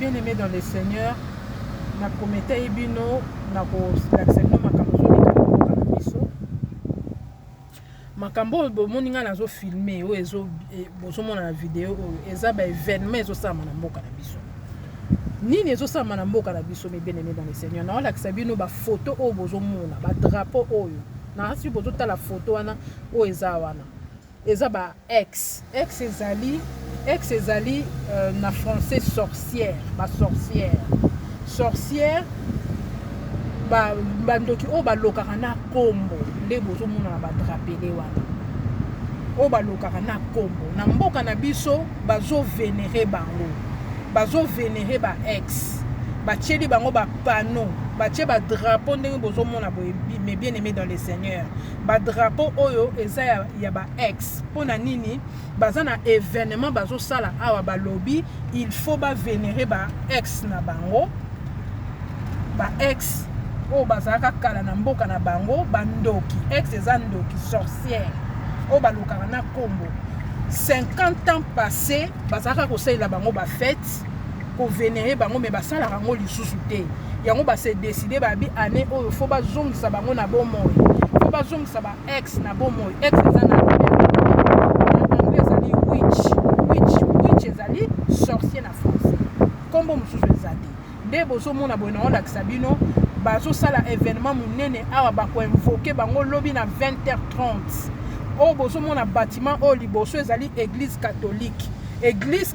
Bien aime dans le Seigneur, na prometei bino na kolakisa bino makambo ezoleka na mboka na biso. Makambo oyo bomoni ngai nazo filme oyo ezo e, bozomona na video oyo eza ba evenement ezosalama na mboka na biso. Nini ezosalama na mboka na biso mes bien aime dans le Seigneur, naolakisa bino ba photo oyo bozomona ba drapeau oyo na asi bozotala photo wana oyo eza wana Eza ba ex. Ex ezali ex ezali na français sorcière ba sorcières sorcières ba ba ndoki oyo ba lokaka na kombo nde bozo mona na ba drapele wana oyo ba lokaka na kombo na mboka na biso bazo venere bango bazo venere ba ex batieli bango ba panneaux batie ba drapeaux ndenge bozo mona boye mes bien aimés dans le seigneur Ba drapeau oyo eza ya, ya ba ex pona nini baza na evenement bazo sala awa ba lobi il faut ba venere ba ex na bango ba ex oyo bazalaka kala na mboka na bango ba ndoki ex eza ndoki sorcière oyo balukaka na kombo 50 ans passé bazalaka kosalela bango ba fete ko venere bango mais basalaka yango lisusu te yango ba se decide ba bi année oyo faut bazongisa bango na bomoi faut bazongisa ba ex na bomoi ex eza na anglais ezali witch witch witch ezali sorcier na français nkombo mosusu eza te nde bozomona boye naolakisa bino bazosala événement monene awa bakoinvoke bango lobi na 20h30 oyo bozomona bâtiment oyo liboso ezali église catholique église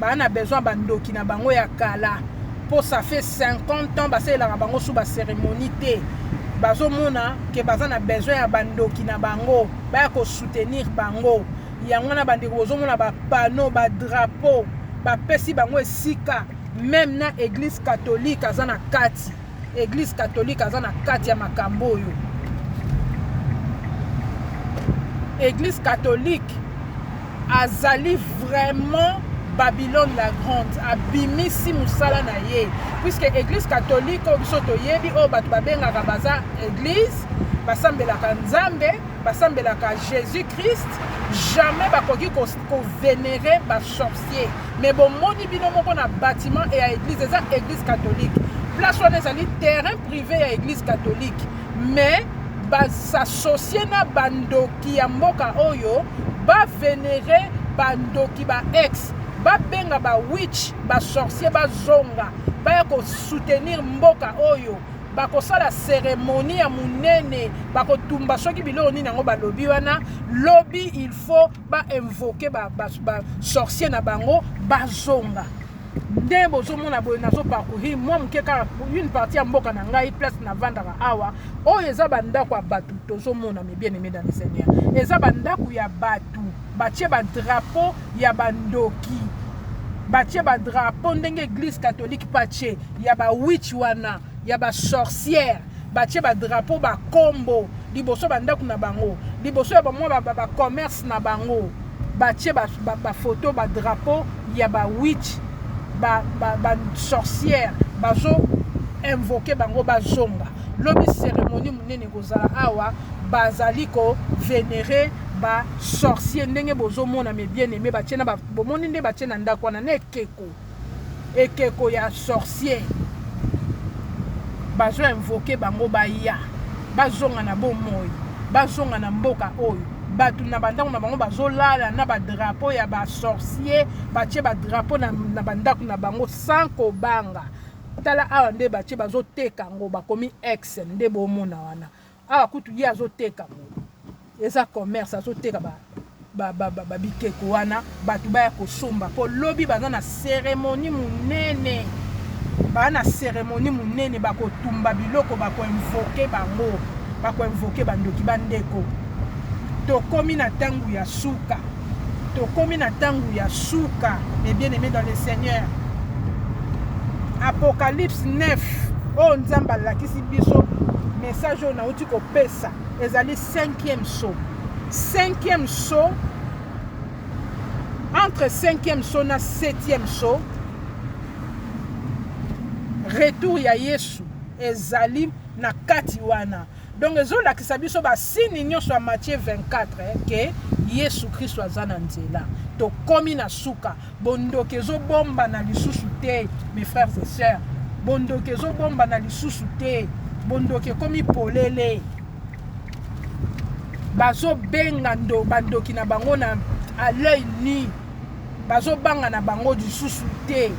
Ba na besoin ba ndoki na bango ya kala po ça fait 50 ans basalelaka bango sous ba ceremonie te bazo mona que baza na besoin ya ba ndoki na bango baya ko soutenir bango yango wana bandeko bozo mona ba panneau ba drapeau bapesi bango esika meme na eglise catholique aza na kati Eglise catholique aza na kati ya makambo oyo. Eglise catholique azali vraiment Babylone la Grande abimisi musala na ye puisque Eglise catholique oyo biso toyebi oyo bato babengaka baza Eglise basambelaka Nzambe basambelaka Jésus-Christ jamais bakoki kovenere ba sorcier Mais bo moni bino moko na batiment et ya eglise eza eglise catholique place wana ezali terrain privé ya eglise catholique mais s'associer na bandoki ya mboka oyo ba vénérer bandoki ba ex babenga ba witch ba sorcier bazonga baya soutenir mboka oyo bakosala cérémonie ya monene bakotumba soki biloko nini yango balobi wana lobi il faut ba invoquer ba, ba, ba sorcier na bango bazonga nde bozomona boye nazo parcourir mwa moke kaka une partie ya mboka na ngai place navandaka awa oyo eza bandako ya bato tozomona mes bien aimé dans le seigneur eza bandako ya bato batie badrapo ya bandoki batie badrapo ndenge eglise catholique patie ya bawich wana ya ba sorcière batie ba drapeau ba kombo liboso ba ndaku na bango liboso ya ba mwa ba, ba, ba commerce na bango batie ba, ba, ba photo ba drapeau ya ba witch ba, ba, ba sorcière bazo invoke bango bazonga lobi cérémonie monene ekozala awa bazali ko venere ba sorcier ndenge bozomona me bien aime batie na bomoni nde batie na ndako wana na ekeko Ekeko ya sorcier bazo invoquer bango baya bazonga na bo moyi bazonga na mboka oyo batu na bandaku na bango bazo lala na ba drapeau ya ba sorcier batie ba drapeau na, na bandaku na bango sans kobanga tala awa nde batie bazo teka ngo bakomi ex nde bomona wana Awa kutu ye azoteka moto, eza commerce azoteka ba ba ba ba, ba bikeko wana bato baya kosomba po lobi baza na ceremonie munene baa na ceremonie munene bakotumba biloko bako invoke bango bako invoke bandoki bandeko tokomi na tango ya suka. Tokomi na tango ya suka mes bien aimés dans le Seigneur. Apocalypse 9 oyo Nzambe alakisi biso message oyo nauti kopesa ezali cinquième saut. Cinquième saut entre cinquième saut na septième saut retour ya Yesu ezali na kati wana Donc ezo lakisa biso ba signe nionso ya Matthieu 24 eh, que Yesu Kristo aza na nzela. Tokomi na suka. Bondoki ezo bomba na lisusu te, mes frères et sœurs. Bondoki ezo bomba na lisusu te. Bondoki ekomi polele. Bazo benga ndo bandoki na bango na à l'œil nu. Bazo banga na bango lisusu te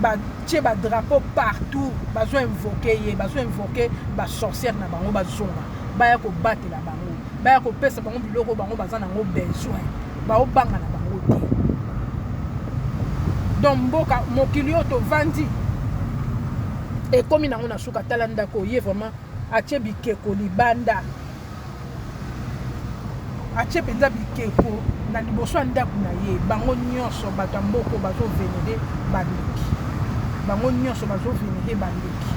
ba tie ba drapeau partout bazo invoque ye bazo invoque ba sorcière na bango bazonga baya ko batela bango baya ko pesa bango biloko bango baza na ngo besoin bao banga na bango te donc mboka mokili oyo tovandi ekomi nango na suka tala ndako ye vraiment atie bikeko libanda Atie penza bikeko na liboso ya ndaku na ye. Bango nionso bato ya mboka oyo bazo venere ba ndoki. Bango nionso bazo venere ba ndoki.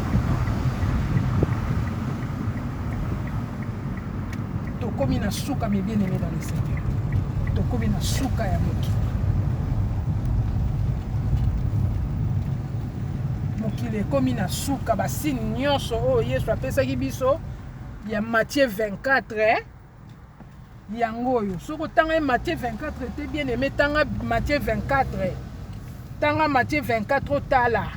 Tokomi na suka mes bien aimés dans le Seigneur. Tokomi na suka ya mokili. mokili ekomi na suka basini nyonso oyo yesu apesaki biso ya Matthieu 24 eh? yango oyo soki otanga ye Matthieu 24 te bien aimé tanga Matthieu 24 eh? tanga Matthieu 24 otala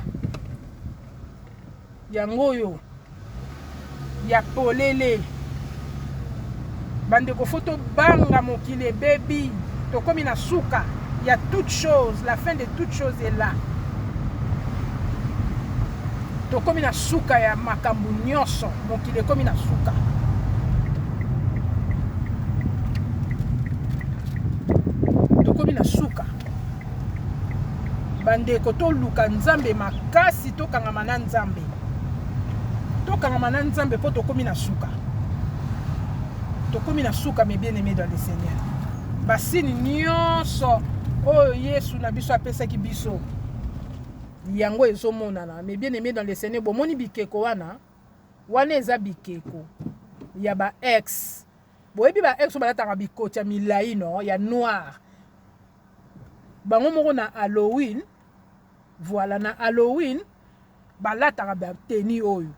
yango oyo ya polele bandeko fo tobanga mokili ebebi tokomi na suka ya toute chose la fin de toute chose est là Tokomi na suka ya makambu nionso, mokili ekomi na suka. Tokomi na suka. Bandeko toluka Nzambe makasi, tokangama na Nzambe. Tokangama na Nzambe po tokomi na suka. Tokomi na suka mes bien-aimés dans le Seigneur. Basini nionso oyo Yesu na biso apesaki biso Yango ezo monana mes bien aime dans le seigneur bomoni bikeko wana wana eza bikeko ya ba ex boyebi ba ex balataka bikoti ya milai no ya noir bango moko na halloween voilà na halloween balataka ba tenue oyo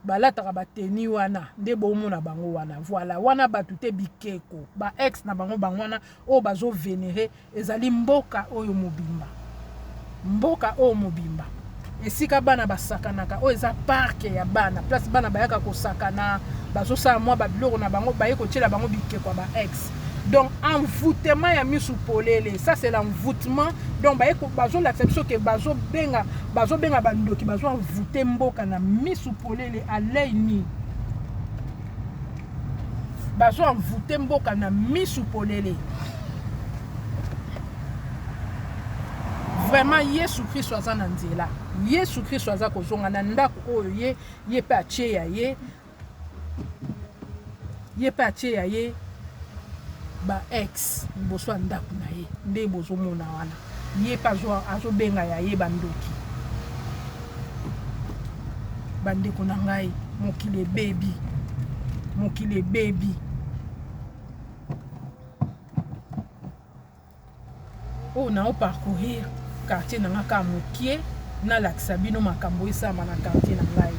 balataka ba tenue wana nde bomona bango wana voilà wana batu te bikeko ba ex na bango bango wana oyo bazo venere ezali mboka oyo mobimba mboka oyo mobimba esika bana basakanaka oyo eza parke ya bana place bana bayaka kosakana bazosala mwa babiloko na bango baye kotyela bango bikeko ya ba ex donc envoutement ya misu polele ça c'est l'envoutement donc baye bazo lakisa biso ke bazo benga bazo benga ba ndoki bazo envoute mboka na misu polele à l'œil nu bazo envoute mboka na misu polele vraiment yesu kristo aza na nzela yesu kristo aza kozonga na ndako oyo ye ye mpe atie ya ye Ye pe atie ya ye ba ex liboso ya ndaku na ye nde bozo mona wana ye pe azo benga ya ye ba ndoki ba ndeko na ngai mokili ebebi mokili ebebi. oyo nao parcourir quartier na nga kaka mokie nalakisa bino makambo esalama na quartier na ngai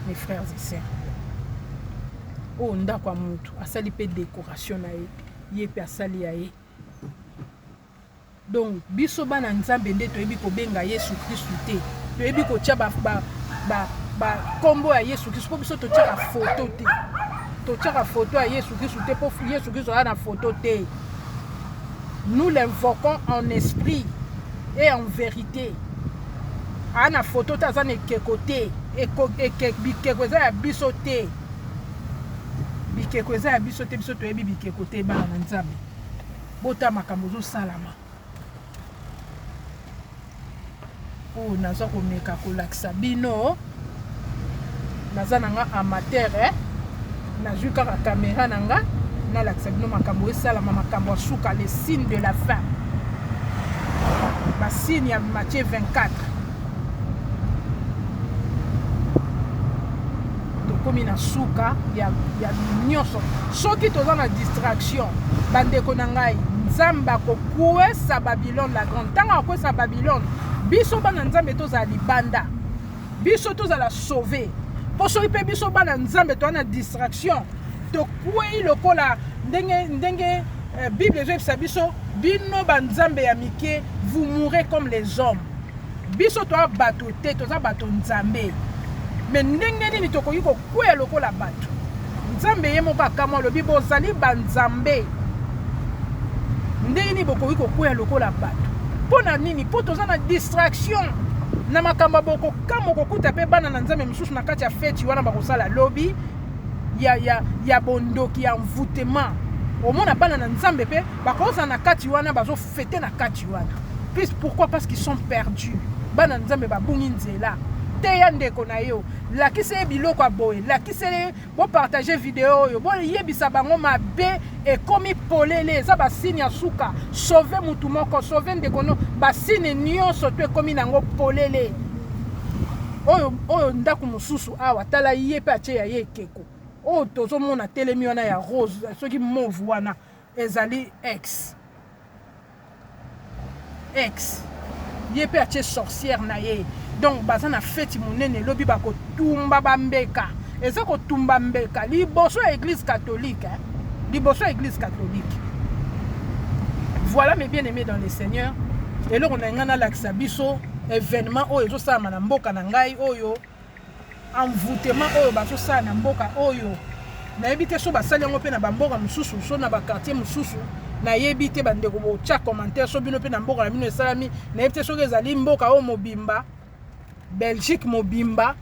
mes frères et sœurs oyo ndako ya motu asali mpe décoration na ye ye mpe asali ya ye donc biso bana nzambe nde toyebi kobenga yesu kristu te toyebi kotya bankombo ya yesu kristu mpo biso totyaka foto te totyaka foto ya yesu kristu te mpo yesu kristu aza na foto te nous l'invoquons en esprit et en verite aa na foto te aza na ekeko te bikeko eza ya biso te bikeko eza ya biso te biso toyebi bikeko te bana na nzambe bota makambo ozosalama Oyo naza komeka kolakisa bino naza na nga amateur eh? nazwi kaka kamera na nga nalakisa bino makambo esalama makambo ya suka le signe de la fin basigne ya matie 24 tokomi na suka ya, ya nyonso soki toza na distraction bandeko na ngai nzambe akokuesa babi Babylone la grande ntango akokwesa Babylone biso bana Nzambe tozala libanda biso tozala sauve mpo soki mpe biso bana Nzambe toa na distraction tokwei lokola ndenge ndenge eh, Bible ezoyebisa biso bino banzambe ya mike vous mourrez comme les hommes Biso toa bato te, toza bato Nzambe. Mais ndenge nini tokoki kokueya lokola bato? Nzambe ye moko akamwa alobi bozali ba Nzambe. Ndenge nini bokoki kokueya lokola bato? Mpo na nini? Mpo toza na distraction na makambo ya bokokamwa kokuta mpe bana na Nzambe mosusu na kati ya feti wana bakosala lobi ya, ya, ya bondoki ya envoutema omona bana na Nzambe mpe bakozala na kati wana bazo fete na kati wana plus pourquoi parce qu'ils sont perdus bana nzambe babungi nzela teya ndeko na yo lakisa ye biloko ya boye lakisele ye bopartage video oyo boyebisa bango mabe ekomi polele eza basini ya suka sauve motu moko sauve ndeko no basini nyonso to ekomi na yango polele oyo oyo ndako mosusu awa tala ye mpe atie ya ye ekeko oyo tozomona telemi wana ya rose soki move wana Ezali ex. Ex. Ye pe atie sorcière na ye. Donc baza na feti munene lobi ba ko tumba ba mbeka. Eza ko tumba mbeka liboso ya eglise catholique hein. Liboso ya eglise catholique. Voilà mes bien aimés dans le Seigneur. Eloko na nga na lakisa biso événement oyo ezo salama na mboka na ngai oyo. envoutement oyo bazosala na mboka oyo nayebi te so basali yango mpe na bamboka mosusu so na bakartier mosusu nayebi te bandeko botya commentaire so bino mpe na mboka na bino esalami nayebi te soki ezali mboka oyo mobimba belgique mobimba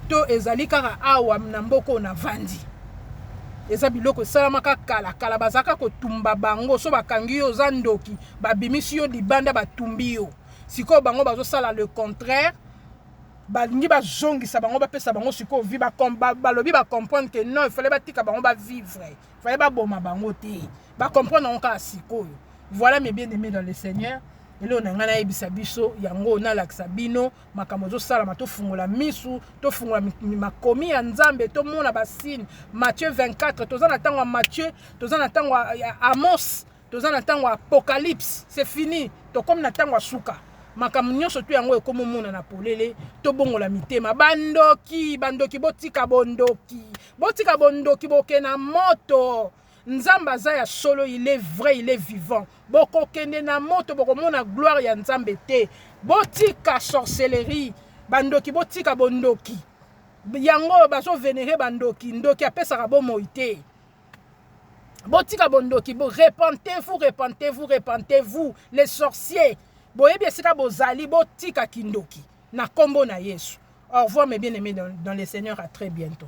to ezali kaka awa na mboka oyo navandi eza biloko esalamaka kala kala bazalaka kotumba bango so bakangi yo oza ndoki babimisi yo libanda batumbi yo sikoyo bango bazosala le contraire balingi bazongisa bango bapesa bango sikoyo vi balobi bacomprendre ke non ifale batika bango bavivre ifale baboma bango te bacomprendre yango kaka sikoyo voilà mes bien aimé dans le seigneur eloo na ngai nayebisa biso yango nalakisa bino makambo ezosalama tofungola misu tofungola makomi ya nzambe tomona basine matthieu 24 toza na ntango ya matthieu toza na ntango ya amos Toza na tango ya apocalypse, c'est fini, tokomi na tango ya suka. Makambo nyonso tu yango ekomi omonana polele, tobongola mitema. Bandoki, bandoki, botika bondoki, botika bondoki, boke na moto. Nzambe aza ya solo, il est vrai, il est vivant. Bokokende na moto, bokomona gloire ya Nzambe te. Botika sorcellerie, bandoki, botika bondoki. Yango bazo venere bandoki, ndoki apesaka bomoi te. botika bondoki bo repentez-vous repentez-vous repentez-vous les sorciers boyebi esika bozali botika kindoki na kombo na Yesu au revoir mes bien-aimés dans, dans le Seigneur à très bientôt